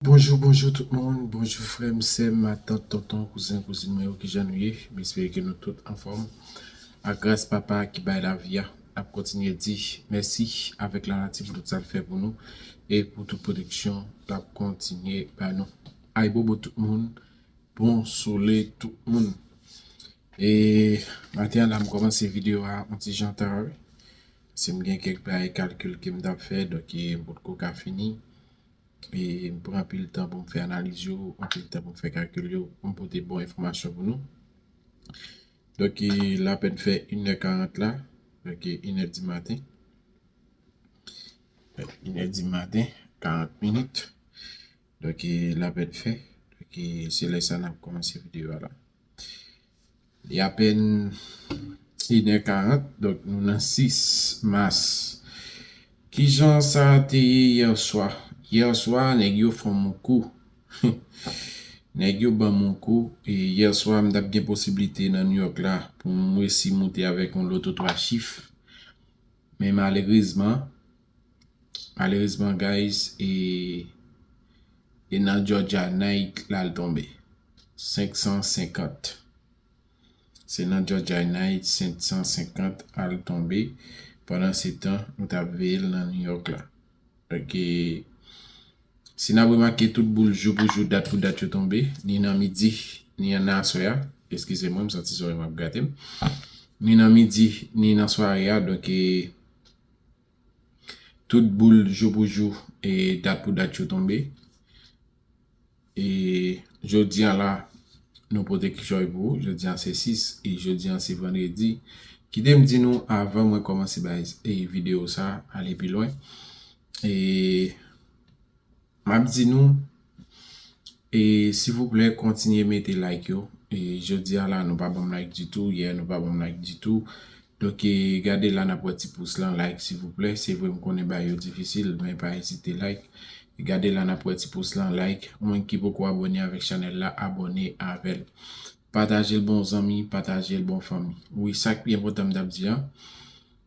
Bonjou bonjou tout moun bonjou frèm sèm matant tonton kouzen kouzin mwen yo kijan nou ye m espere ke nou tout anfòm ak gras papa ki bay lavi a nap kontinye di mèsi avèk lanati pou tout sal fè pou nou e pou tout pwoteksyon lap kontinye bay nou ayibobo tout moun bon sole tout moun e maten an la m kòmanse video a yon ti jan ta wi se m gen kèk bay kalkil kem tap fè donk m potko ka fini. e m pran anpil tan pou m fè analiz yo, anpil tan pou m fè kalkil yo, pou m pote bon enfòmasyon pou nou. Donk e l apèn fè inè karant la, donk e inè di maten. Inè di maten, karant minit. Donk e l apèn fè, donk e se lè sa n ap kòmanse videyo a la. Li apèn 1 è 40, donk nou nan 6 mas. Ki jan sa te ye yè swa? Yè swa nèg yo fon m on kou. Nèg yo ban m on kou. Yè swa m t ap gen posiblite nan Nouyòk la pou m resi moute avèk yon loto 3 chif. Men malerezman. Malerezman guys e e nan Georgia night la l tonbe 550 se nan Georgia night 550 al tonbe pandan se tan nou tap veyel nan New York la ok si nap remake tout boul jou pou jou dat pou dat yo tonbe ni nan midi ni nan aswè a eskize mwen m santi zorèy m ap gatem ni nan midi ni nan sware a donk e Tout boul jou pou jou e dat pou dat yo tonbe. E jodi an la nou pote kichòy pou ou. Jodi an se 6 e jodi an se vandredi. Kite m di nou avan mwen kòmanse bay videyo sa ale pi lwen. E. Map di nou E sivouplè kontinye mete like yo E jodi a la nou pa banm like ditou yè nou pa banm like ditou Donk e gade la nap wè ti pous lan like sivouplè se vre m konnen bagay yo difisil men pa ezite like E gade la nap wè ti pous lan like moun ki poko abòne avèk chanèl la abòne avèl Patajel bon zanmi patajel bon fanmi wi sak pi enpòtan m tap di an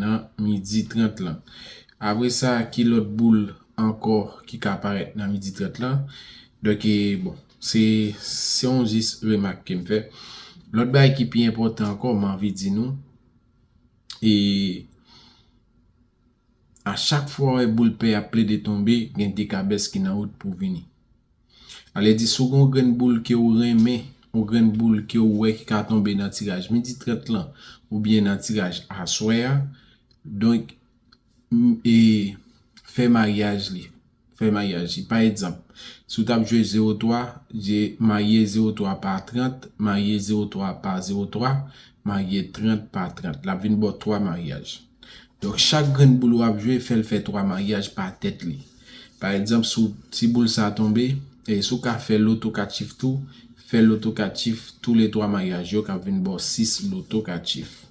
nan midi 30 lan. Apre sa ki lòt boul ankò ki ka parèt nan midi 30 lan. Donk e bon, se yon jis remak ke m fè. Lòt bagay ki pi enpòtan ankò m anvi di nou, e a chak fwa ou wè boul pè a ap plede tonbe, gen dekabès ki nan wout pou vini. Ale di si w gen yon grenn boul ke ou renmen, yon grenn boul ke ou wè ki ka tonbe nan tiraj midi 30 lan oubyen nan tiraj aswè a, donk e fè maryaj li, fè maryaj li. Pa egzanp, si w t ap jwe zewo twa, je marye zewo twa pa trant, marye zewo twa pa zewo twa, marye trant pa trant. L ap vin ba w twa maryaj. Donk chak grenn boul w ap jwe, fè l fè twa maryaj pa tèt li. Pa egzanp si w ti boul sa tonbe, e si w ka fè loto 4 chif tou, fè loto 4 chif tou le 3 maryaj yo k ap vin ba w 6 loto 4 chif.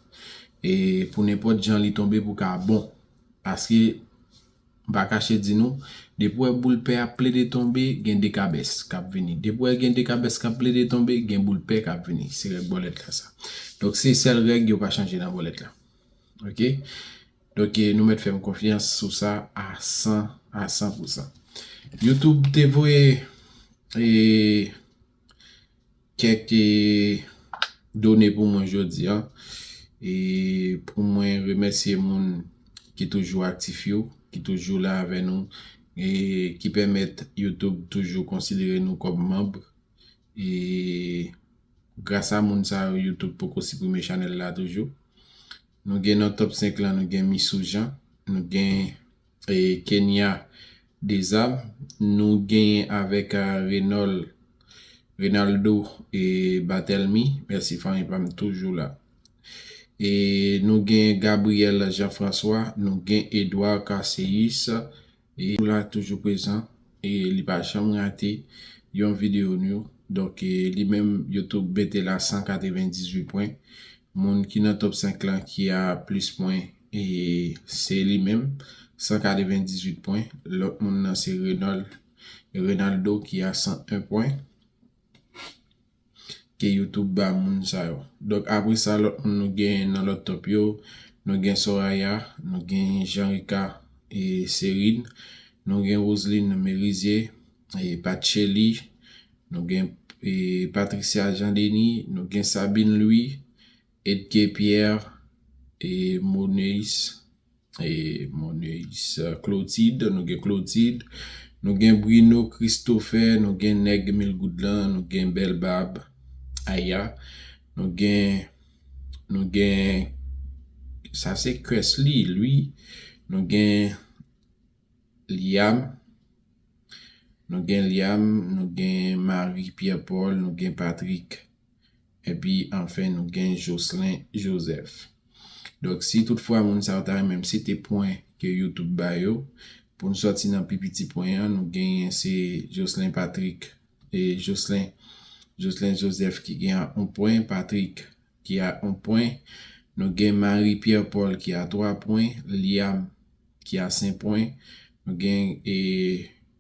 E pou nenpòt jan li tonbe pou ka bon. Paske m pa kache di nou, depi w wè boul pè ap plede tonbe, gen dekabès k ap vini. Depi w wè gen dekabès k ap plede tonbe, gen boul pè k ap vini. Se règ bòlèt la sa. Donk se sèl règ yo pa chanje nan bòlèt la. Ok. Donk nou mèt fèm konfyans sou sa a 100 a 100 pou 100. Youtube te voye e kèk e done pou mwen jodi an e pou mwen remèsye moun ki toujou aktif yo, ki toujou la avè nou e ki pèmèt youtube toujou konsidere nou kòm manb e grasa moun sa yo youtube poko siprime chanèl la toujou. Nou gen nan top 5 lan nou gen Missou Jean, nou gen Kenia Dezam, nou genyen avèk Renol Renaldo Batelmy, mèsi fanmi pa m toujou la. E nou gen Gabriel Jean François, nou gen Edouard Casséus, Li tou la toujou prezan e li pa janm rate yon video nou donk li menm YouTube mete la 198 pwen moun ki nan top 5 lan ki a plis pwen e se li menm 198 pwen lòt moun nan se Renold Renaldo ki a 101 pwen. ke youtube ba moun sa yo donk apre sa lòt moun nou genyen nan lòt top yo nou gen Soraya nou gen Janrika e Serin nou gen Roseline Merizier e Pat Chely nou gen Patricia Jean Denis nou gen Sabine Louis Edgé Pierre e Moneis e Moneis Clotide nou gen Clotide nou gen Brino Christophe nou gen nèg mil goud lan nou gen bèl bab Aya nou gen nou gen sa se Kesly ui nou gen Liam nou gen Liam nou gen Marie Pierre Paul nou gen Patrick. Epi anfen nou gen Jocelyn Joseph. Donk si tout fwa moun sa yo ta renmen sete pwen ke youtube ba yo, pou nou sòti nan pi piti pwen an nou genyen se Jocelyn Patrick e Jocelyn Jocelyn Joseph ki gen a 1 pwen, Patrick ki a 1 pwen, nou gen Marie Pierre Paul ki a 3 pwen, Liam ki a 5 pwen, nou gen e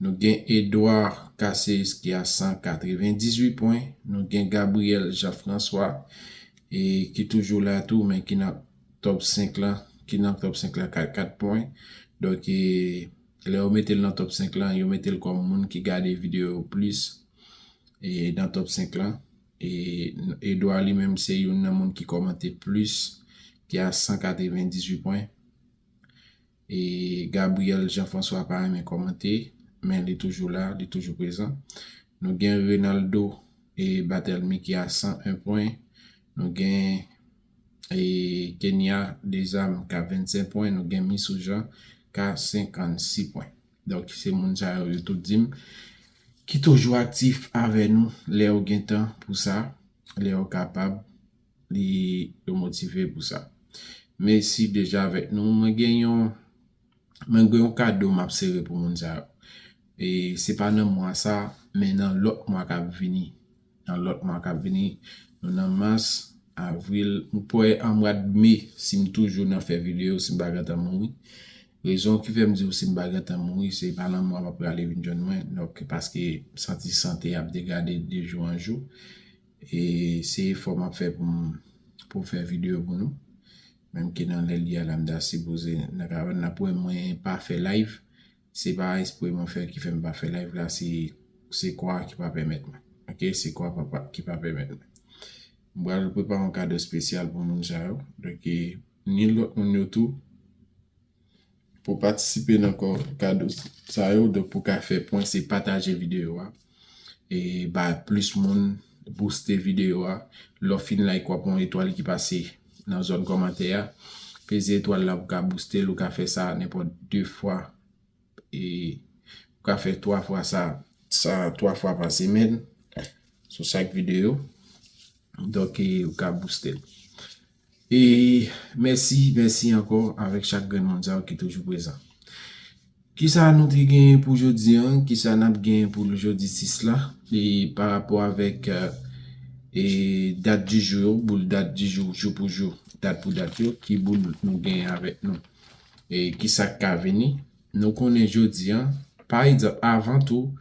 Nou gen Edouard Caceres ki a 198 pwen. Nou gen Gabriel Jean Francois ki toujou la tou men ki nan top 5 la. Ki nan top 5 la ka 4 pwen. Donk e lè yo mete l nan top 5 la yo mete l kòm moun ki gade videyo yo plis e nan top 5 la. E Edouard li menm se youn nan moun ki kòmante plis ki a 198 pwen. E Gabriel Jean François pa renmen kòmante, men li toujou la, li toujou prezan. Nou gen Renaldo e Batelmy ki a 101 pwen. Nou gen e Kenya Dezam ka 25 pwen. Nou gen Misou Jean ka 56 pwen. Donk se moun sa yo, yo tout di m ki toujou aktif avè nou lè yo gen tan pou sa, lè yo kapab. li yo motive pou sa. Mesi deja avek nou. Mwen gen yon mwen gen yon kado map sere pou moun sa yo. E se pa nan mwa sa men nan lot mwa kap vini. Nan lot mwa kap vini. Nou nan mas, avril, m kwè an mwa de me si m toujou nan fè video si m pa gentan mouri. Rezon ki fèm diw si m pa gentan mouri se pa nan mwa map prale vin jwenn mwen. Donk paske m santi sante ap degade de jou an jou. E se efò map fè pou m pou m fè video pou nou. Menm ke nan lè li a la m ta sipoze nan ka wè nap wè mwen pa fè live. Se pa espre mwen fè ki fè m pa fè live la se se kò a ki pa pèmèt mwen. Ok se kò a pa ki pa pèmèt mwen. M pral prepare yon kado spesyal pou moun sa yo. Donk e ni lòt moun yo tou Pou patisipe nan kò kado sa yo donk pou ka fè pwen se pataje videyo a e bay plis moun bouste videyo a lè w fin like wap wè yon etwal ki pase nan zòn kòmantè a peze etwal la pou ka bouste l ou ka fè sa nenpòt 2 fwa e ou ka fè 3 fwa sa sa 3 fwa pa semèn sou chak videyo donk e ou ka bouste l. E mèsi, mèsi ankò avèk chak grenn moun sa yo ki toujou prezan. Kisa nou te genyen pou jodi an, kisa n ap genyen pou jodi 6 la e pa rapò avèk e dat di jou yo, boul dat di jou, jou pou jou, dat pou dat yo, ki boul nou genyen avèk nou e kisa k ka vini. Nou konnen jodi an, pa egzanp, avan tou,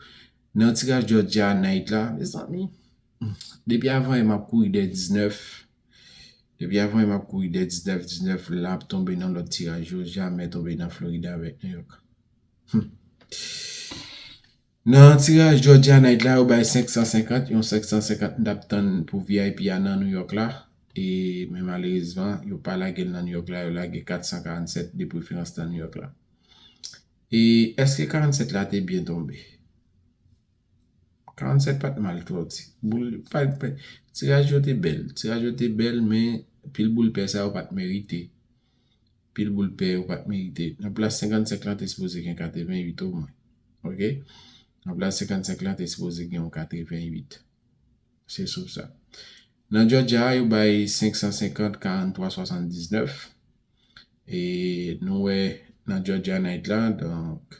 nan tiraj dòdja nayit la, mezanmi, depi avan yè m ap kouri dèyè 19 Depi avan map kouri dè 19 19 la ap tonbe nan lòt tiraj yo jamè tonbe nan Florida avèk New York humm nan tiraj Georgia night la yo bay 550 yon 550 m tap tann pou vip a nan New York la e men malerezman yo pa lagel nan New York la yo lage 447 de preferans nan New York la e eske 47 la te byen tonbe. 47 pat mal twò ti boul tiraj yo te bèl tiraj yo te bèl men pil boul pè sa yo pat merite pil boul pè yo pat merite nan plas 55 lan te sipoze gen 88 omwen ok nan plas 55 lan te sipoze gen yon 88 se sou sa nan jòjya a yo bay 550 43 79 e nou wè nan jòjya nayt la donk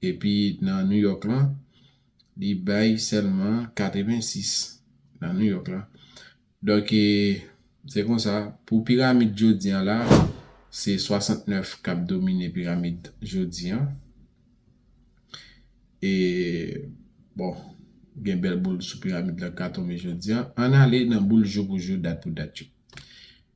Epi nan New York lan, li bay sèlman 86 nan New York lan. Donk, se konsa, pou piramid jodi an la, se 69 k ap domine piramid jodi an. E, bon, gen bèl boul sou piramid lan k ka tonbe jodi an. Ann ale nan boul jou pou jou, dat pou dat yo.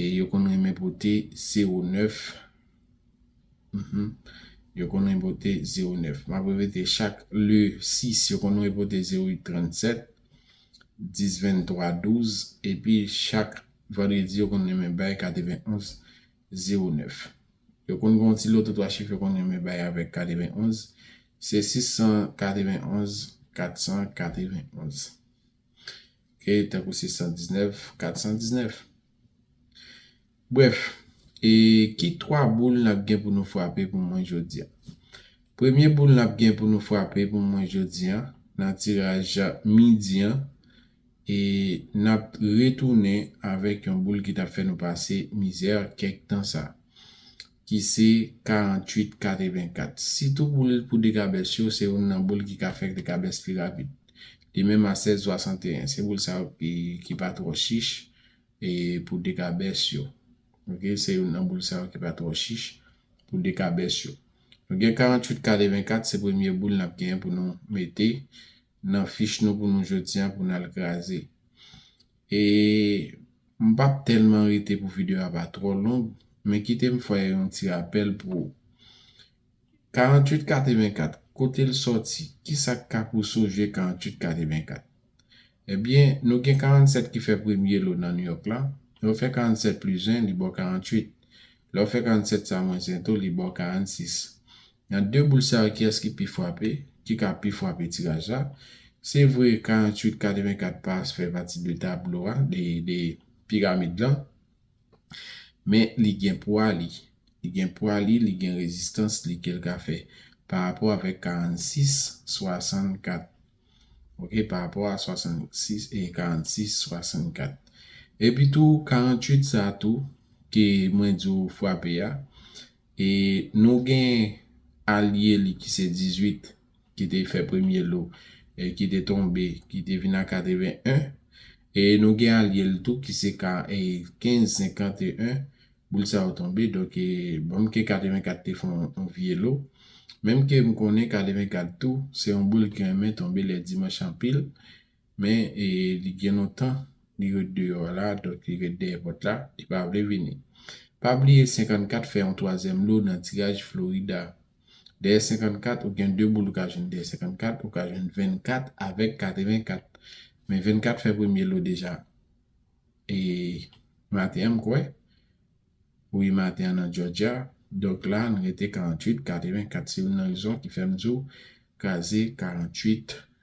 E yo konn renmen pote zewo nèf. Uhmm. Yo konn renmen pote zewo nèf. M ap repete, chak le sis, yo konn renmen pote zewo uit trannsèt, dis venntwa, douz. Epi chak vandredi, yo konn renmen bay kateven onz, zewo nèf. Yo konn gen yon ti loto twa chif yo konn renmen bay avèk kateven onz. Se sis san kateven onz, kat san kateven onz. e tankou 619, 419. Brèf, e ki 3 boul n ap gen pou nou frape pou mwen jodi a? Premye boul n ap gen pou nou frape pou mwen jodi a, nan tiraj midi an, e n ap retounen avèk yon boul ki t ap fè nou pase mizè kèk tan sa. ki se 48 84 sitou pou l pou dekabès yo se youn nan boul ki ka fè dekabès pi rapid de menm a 16 61 se boul sa yo ki ki pa twò chich e pou dekabès yo ok se youn nan boul sa yo ki pa twò chich pou dekabès yo nou gen 48 84 se premye boul n ap gen pou nou mete nan fich nou pou nou jodi a pou nal kraze e m pap tèlman rete pou video a pa twò long men kite m fè yon ti rapèl pou ou 48 84 kote l sòti kisa k ka pou soje 48 84 ebyen nou gen 47 ki fè premye lo nan Nouyòk la lè w fè 47 plis 1 li ba w 48 lè w fè 47 sa mwens 1 tou li ba w 46 Nan 2 boul sa yo kiyès ki pi fwape, ki ka pi fwape tiraj la? Se vre 48 84 pa fè pati de tablo a, de piramid lan, men li gen pwa li, li gen pwa li, li gen rezistans li ke l ka fè pa rapò avèk 46 64 ok, pa rapò a 66 e 46 64. Epi tou 48 sa tou ke mwen di w fwape a, E nou gen alye li ki se 18 ki te fè premye lo e ki te tonbe ki te vin a 81. E nou gen alye l tou ki se ka 15 51 boul sa yo tonbe donk e banm ke 84 te fè yon vye lo. Menm ke m konnen 84 tou se yon boul ki renmen tonbe lè dimanch anpil. Men li gen lontan li ret deyò a la, donk li ret dèyè pòt la, li pa vle vini. Pa bliye 54 fè yon twazyèm lo nan tiraj Florida. Dèyè 54, ou gen 2 boul ou ka jwenn dèyè 54, ou ka jwenn 24 avèk 84. Men 24 fè premye lo deja e maten an m kwè, wi maten an nan Jòjya, donk la n rete 48, 84 se youn nan rezon ki fè m di w kraze 48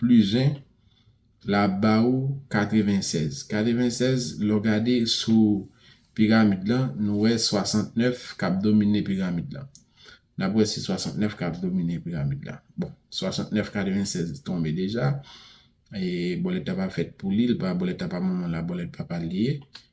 Plis 1 la ap ba ou 96. 96 lè w gade sou piramid lan, nou wè 69 k ap domine piramid lan. N ap wè se 69 k ap domine piramid lan. Bon, 69, 96 tonbe deja. E bòlèt la pa fèt pou li, l pa bòlèt papa manman l, bòlèt papa l li ye.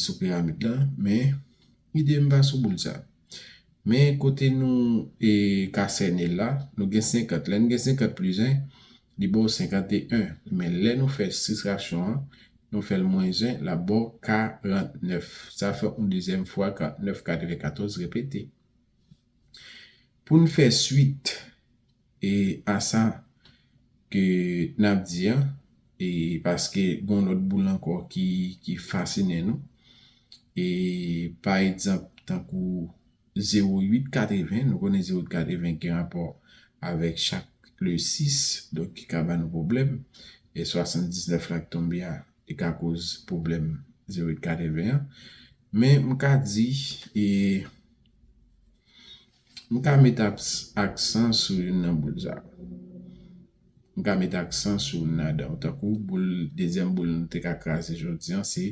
sou pyramid la men ide m pa sou boul sa men kote nou ka sène l la nou gen 50 lè n gen 50 plis 1 li ba w 51 men lè nou fè sistraksyon an nou fè l mwens 1 l ap ba w 49 sa fè yon dezyèm fwa 49 94 repete pou n fè swit. E a sa ke nap di an e paske gon lòt boul ankò ki ki fasinen nou e pa egzanp tankou zewo uit katreven nou konnen zewo uit katreven ki gen rapò avèk chak le sis donk ki ka ba nou pwoblèm e swasann diznèf la ki tonbe a li ka koz pwoblèm zewo uit katreven an men m ka di e. M ka met aksan sou youn nan boul sa yo. M ka met aksan sou youn ladan yo. Tankou boul, dezyèm boul nou te ka kraze jodi an se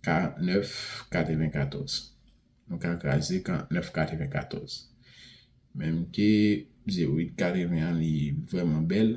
49 94. Nou ka kraze 49 94. Menm ke 08 80 an li vrèman bèl.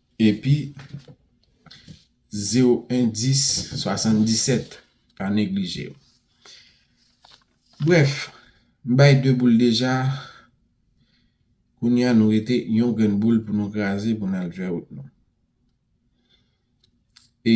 Epi, 01 10 77, pa neglije yo. Brèf, m bay 2 boul deja, kounye a nou rete yon grenn boul pou nou kraze pou n al fè wout nou. E,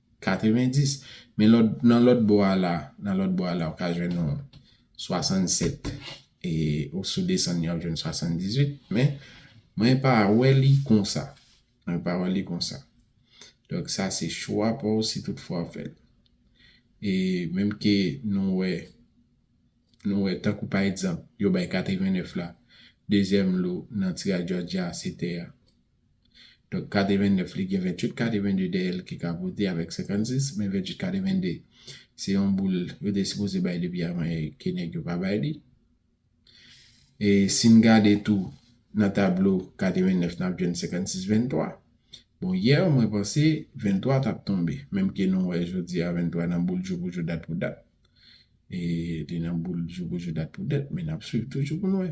90, men lòt, nan lòt bò a la, nan lòt bò a la ou ka jwenn yon 67 e ou si w desann yon w ap jwenn 78, men mwen pa wè li konsa, mwen pa wè li konsa. Donk sa se chwa pa w si tout fwa w fè l. E menm ke nou wè, nou wè tankou pa egzanp yo bay 89 la, dezyèm lo nan tiraj Jòjya se tè a. Donk kade 29 li gen 28 kade 22 dèyè l ki ka pote avèk 56 men 28 kade 22 se yon boul yo te sipoze bay depi avan e ke nèg yo pa bay li. E si n gade tou nan tablo kade 29 n ap jwenn 56 23. Bon yè mwen panse 23 t ap tonbe menm ke nou wè jodi a 23 nan boul jou pou jou dat pou dat e li nan boul jou pou jou dat pou dat men n ap swiv toujou pou n wè.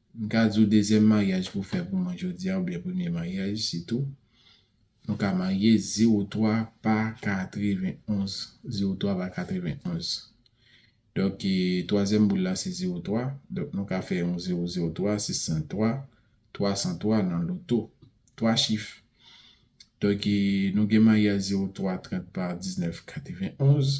M ka di w dezyèm maryaj pou fè pou mwen jodi a oubyen premye maryaj sitou nou ka marye zewo twa pa katreven onz zewo twa pa katreven onz donk twazyèm boul la se zewo twa donk nou ka fè yon zewo zewo twa sis san twa twa san twa nan loto twa chif donk nou gen maryaj zewo twa trant pa diznèf katreven onz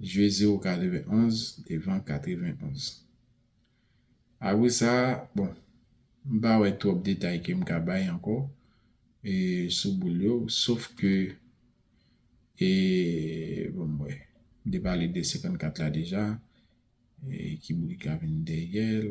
jwe zewo 91 devan 91. Apre sa, bon, m pa wè twòp detay ke m ka bay ankò e sou boul yo, sof ke e bon m wè, m te pale de 54 la deja, e ki boul ki ka vin dèyè l.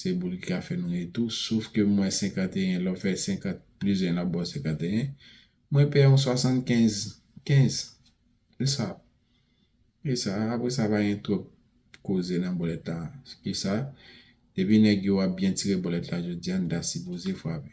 Se boul ki ka fè nou ri tou. Sof ke m wè 51, lè w fè 50 plis 1 l ap ba w 51. Mwen pè yon 75, 15. Se sa. Se sa. Apre sa pa gen twòp koze nan bòlèt la. Ki sa? Depi nèg yo ap byen tire bòlèt la jodi a, n ta sipoze frape.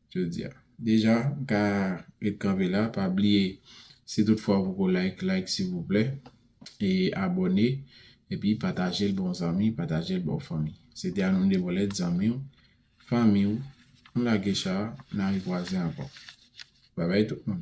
Jodi a. Deja m ka ret kanpe la pa bliye si tout fwa ou poko like like silvouplè e abòne epi patajel ba w zanmi patajel ba w fanmi se te Anoun Debolèt zanmi w fanmi w nou lage cha na rekwaze ankò bye bye tout moun.